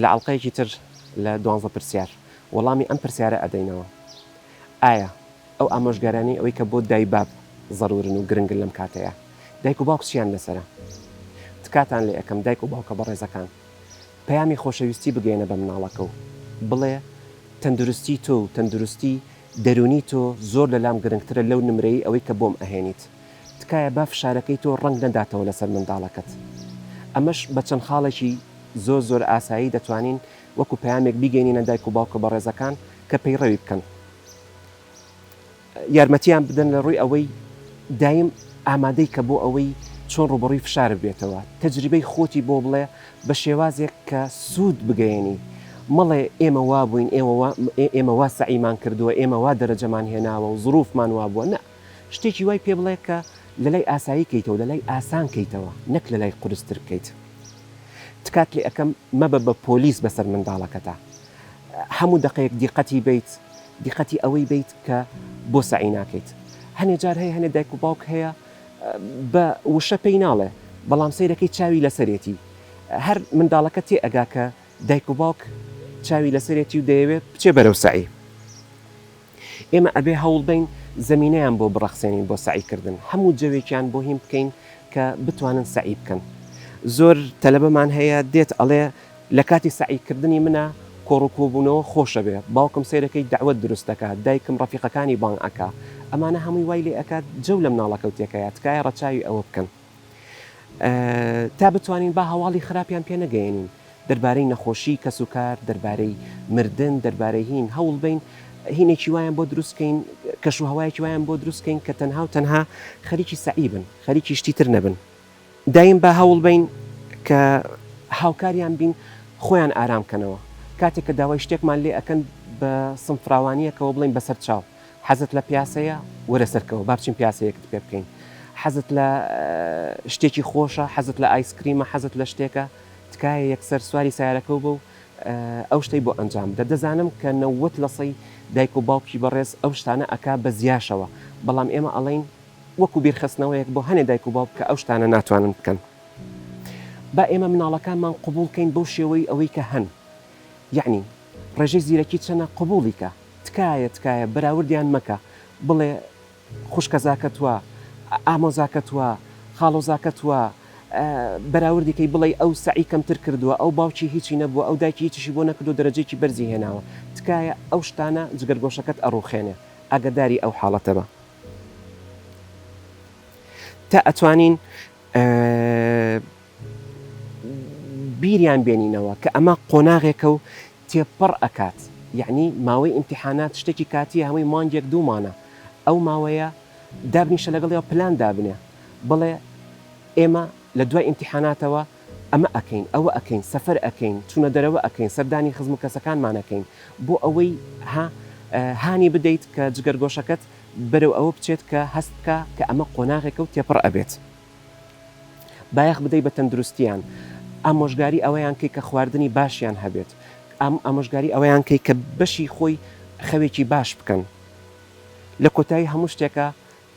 لە ئەڵقەیەکی تر لە دوانزە پرسیار وەڵامی ئەم پرسیارە ئەدەینەوە، ئایا ئەو ئامۆژگاریانەی ئەوەی کە بۆ دای باب زەرورن و گرنگن لەم کاتەیا دایک و باوک چیان لەسەرە؟ تکاتان لێ ئەکەم دایک و باوکە بەڕێزەکان پەیامی خۆشەویستی بگەیەنە بە مناڵەکە و بڵێ تەندروستی تۆ و تەندروستی دەرونی تۆ زۆر لەلام گرنگترە لەو نمرەی ئەوەی کە بۆم ئەهێنیت تکایە با فشارەکەی تۆ ڕەنگ نەداتەوە لەسەر منداڵەکەت ئەمەش بە چەند خاڵێکی زۆر زۆر ئاسایی دەتوانین وەکو پەیامێک بیگەینینە دایک و باوکە بەڕێزەکان کە پەیڕەوی بکەن یارمەتیان بدەن لە ڕووی ئەوەی دایم ئامادەی کە بۆ ئەوەی چۆن ڕوبەڕوی فشار بێتەوە تەجریبەی خۆتی بۆ بڵێ بە شێوازێک کە سوود بگەیەنی مەڵێ ئێمە وابووین ئێوە ئێمە وا سەعیمان کردووە ئێمە وا دەرەجەمان هێناوە و زروفمان وابووە نە شتێکی وای پێ بڵێ کە لەلای ئاسایی کەیتەوە لەلای ئاسان کەیتەوە نەک لەلای قورستر بکەیت تکات لێ ئەکەم مەبە بە پۆلیس بەسەر منداڵەکەتا هەموو دەقەیەک دیقەتی بیت دیقەتی ئەوەی بیت کە بۆ سەعی ناکەیت هەنێ جار هەیە هەنێ دایک و باوک هەیە بە وشە پێی ناڵێ بەڵام سەیرەکەی چاوی لەسەرێتی هەر منداڵەکە تێ ئەگا کە دایک و باوک چاوی لەسەرێتی و دەیەوێ بچێ بەرەو سەعی. ئێمە ئەبێ هەوڵبەین زەمینەیان بۆ بڕەخسێنین بۆ سەعی کردن، هەموو جەوێکیان بۆ هین بکەین کە بتوانن سەعی بکەن. زۆر تەلەبەمان هەیە دێت ئەڵێ لە کاتی سەعی کردنی منا کۆڕ و کۆبوونەوە خۆشە بێ، باوکم سەیرەکەی دەعوەت دروست دەکا، دایکم ڕەفیقەکانی بانگ ئەکا، ئەمانە هەمووی وای لێ ئەکات جەو لە مناڵەکەو تێکەیا، تکایە ڕەچاوی ئەوە بکەن. تا بتوانین با هەواڵی خراپیان پێ نەگەیەنین دەربارەی نەخۆشی کەس و کار دەربارەی مردن دەربارەی هین هەوڵ بین هینێکی وایان بۆ دروستکەین کەش و هەوایەکی وایان بۆ دروستکەین کە تەنها و تەنها خەریکی سەعیبن خەریکی شتی تر نەبن دایم با هەوڵ بین کە هاوکاریان بین خۆیان ئارام کەنەوە کاتێک کە داوای شتێکمان لێ ئەەکەن بە سمفراوانیەکەەوە بڵین بەسەر چاو حەزت لە پیاسەیە؟ وەرە سەرکەوە با بچین پیاسەیەکت پێ بکەین. حەزت لە شتێکی خۆشە؟ حەزت لە ئایسکریمە؟ حەزت لە شتێکە؟ تکایە یەکسەر سواری سەیارەکەو بە و ئەو شتەی بۆ ئەنجام بدە. دەزانم کە نەوەت لە سەی دایک و باوکی بەڕێز ئەو شتانە ئەکا بە زیاشەوە، بەڵام ئێمە ئەڵێین وەکو بیرخستنەوەیەک بۆ هەنێ دایک و باوک کە ئەو شتانە ناتوانن بکەن. با ئێمە مناڵەکانمان قبوڵ کەین بەو شێوەی ئەوەی کە هەن. یەعنی ڕێژەی زیرەکی چەنە؟ قبوڵی کە. تکایە تکایە بەراوردیان مەکە بڵێ خوشکەزاکەت وا ئامۆزاکەت وا خاڵۆزاکەت وا بەراوردی کەی بڵێی ئەو سەعی کەمتر کردوە ئەو باوکی هیچی نەبوە ئەو دایکی هیچیشی بۆ نەکردو دەرەجەیەکی بەرزی هێناوە تکایە ئەو شتانە جگەرگۆشەکەت ئەڕوخێنێ ئاگەداری ئەو حاڵەتە بە تا ئەتوانین بیریان بێنینەوە کە ئەمە قۆناغێکەو تێپەڕ ئەکات یەعنی ماوەی ئیمتیحانات شتێکی کاتیە هەمووی مانگێک دوو مانە ئەو ماوەیە دابنیشە لەگەڵیەوە پلان دابنێ بڵێ ئێمە لە دوای ئیمتیحاناتەوە ئەمە ئەکەین ئەوە ئەکەین سەفەر ئەکەین چونە دەرەوە ئەکەین سەردانی خزم و کەسەکانمان ئەکەین بۆ ئەوەی ها هانی بدەیت کە جگەرگۆشەکەت بەرەو ئەوە بچێت کە هەست بکا کە ئەمە قۆناغێکە و تێپەڕ ئەبێت. بایەخ بدەی بە تەندروستیان ئامۆژگاری ئەوەیان کەی کە خواردنی باشیان هەبێت ئامۆژگاری ئەوەیان کەی کە بەشی خۆی خەوێکی باش بکەن لە کۆتایی هەموو شتێکە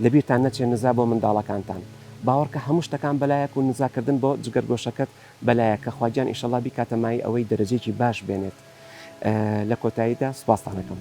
لە بیرتان نەچێ نزا بۆ منداڵەکانتان باوەڕکە هەموو شتەکان بەلایەک و نزا کردن بۆ جگەرگۆشەکەت بەلایەکە خواگیان ئیشەڵا بیکاتە مایەی ئەوەی دەرەجەیەکی باش بێنێت لە کۆتاییدا سوپاستان ئەکەم.